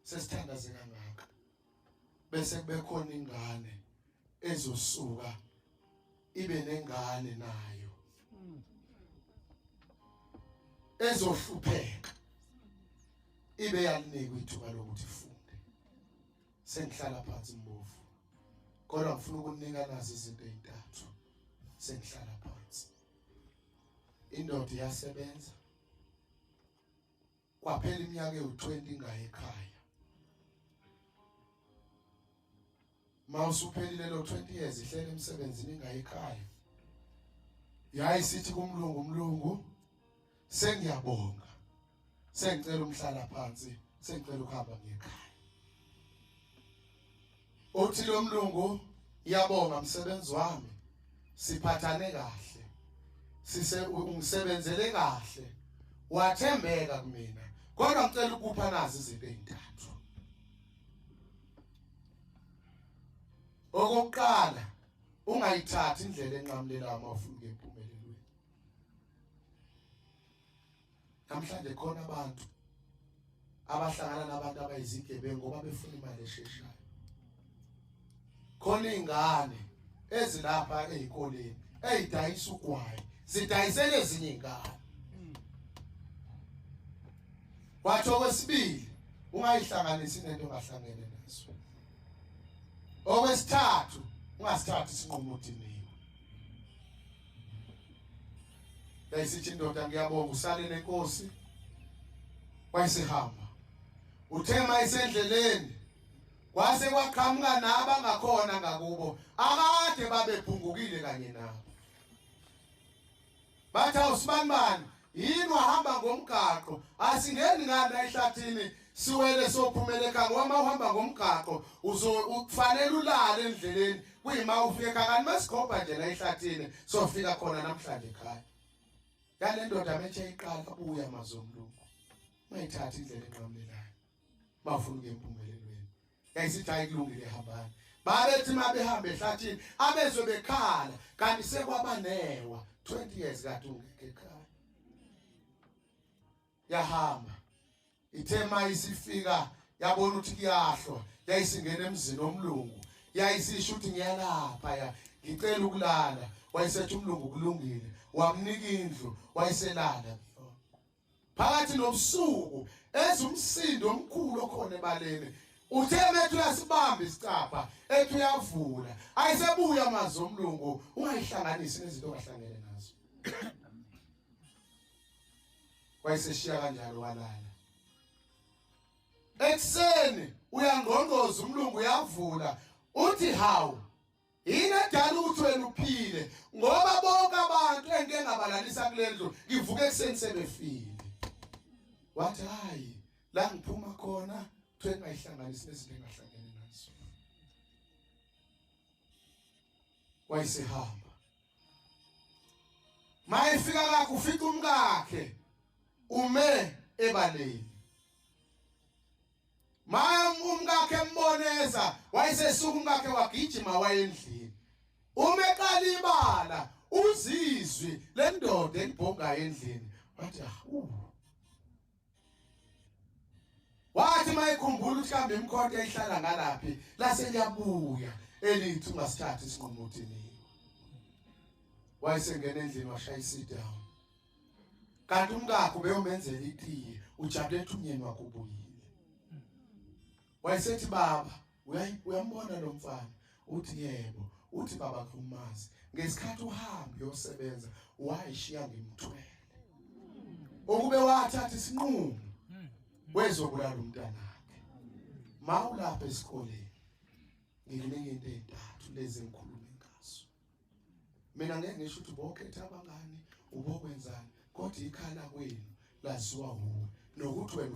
sesithandaze kangaka bese kubekhona ingane ezosuka ibe nengane nayo ezohlupheka ibe yalinikwa ithuba lokuthi ifunde sengihlala phansi mbovu kodwa ngifuna ukunika nazi izinto ezintathu sengihlala phansi indoda iyasebenza kwaphela iminyaka ewu20 ingayi ekhaya mawusuphelile lo 20 years ihlele emsebenzini ingayi ekhaya yayi sithi kumlungu umlungu sengiyabonga sengicela umhlala phansi sengicela ukuhamba ngekhaya uthi lo mlungu iyabonga msebenzi wami siphathane kahle sise ungisebenzele kahle wathembeka kumina kodwa ngicela ukupha nazi izinto ezintathu okokuqala ungayithathi indlela enqamulela uma ufuna ukuyimpumelelo Namhlanje khona abantu abahlangana nabantu abayizigebengu ngoba befuna imali esheshayo. Khona izingane ezilapha ezikoleni ezidayisa ugwayi, zidayisele ezinye izingane. Wathi okwesibili ungayihlanganisi nento ongahlangene naso. Okwesithathu ungasithathi isinqumo udiniwe. yayisithi indoda ngiyabonga usale nenkosi wayesehamba uthe mayisendleleni kwase kwaqhamuka nabo angakhona ngakubo akade babephungukile kanye nabo bathi awusibanibani yini wahamba ngomgaqo asingeni ngani la ehlathini siwele sophumele ekhaya ngoba uma uhamba ngomgaqo uzofanele ulale endleleni kuyima ufika ekhaya kanti mesikhomba nje la ehlathini sofika khona namhlanje ekhaya yale ndoda metshe iqala buya mazomlungu ungayithathi indlela enqamlelayo bafuna ukuya empumelelweni yayisithi hayi kulungile hambani babethi uma behamba ehlathini abezwe bekhala kanti sekwabanewa 20 years kade ungekho ekhaya yahamba ithe ma isifika yabona ukuthi kuyahlwa yayisingena emzini omlungu yayisisho ukuthi ngiyalapha ya ngicela ukulala wayesethi umlungu kulungile wamnika indlu wayeselala phakathi nobusuku ezwe umsindo omkhulu okhona ebaleni uthe methu uyasibamba isicapha ethi uyavula ayisebuya amazi omlungu ungayihlanganisi nezinto ongahlangene nazo wayeseshiya kanjalo walala ekuseni uyangqongqoza umlungu uyavula uthi hawu yini edala ukuthi wena uphile ngoba bonke abantu engike ngabalalisa kule ndlu ngivuke ekuseni sebefile wathi hayi la ngiphuma khona kuthiwe ngayihlanganisi nezinto engahlangene nazo wayesehamba mayefika kakhe ufika umkakhe ume ebaleni Maya umkakhe emboneza wayesesuka umkakhe wagijima wayendlini. Uma eqala ibala uzizwi lendoda elibhongayo endlini wathi ah uh. Wathi mayikhumbula ukuthi kambe imkhonto eyihlala ngalaphi lase liyabuya elithi ungasithatha isinqumo uthini. Wayesengena endlini washaya isidown. kanti umkakho beyomenzela itiye ujabule ethi umyeni wakho ubuyile wayesethi baba uyambona lo mfana uthi yebo uthi baba kumazi ngesikhathi uhamba uyosebenza wayishiya ngimthwele okube wathatha isinqumo wezobulala umntanakhe mawulapha esikoleni ngikunike into ezintathu lezi engikhuluma mina ngeke ngisho ukuthi bokhetha abangani ubokwenzani kodwa ikhala kwenu laziwa wuwe nokuthi wena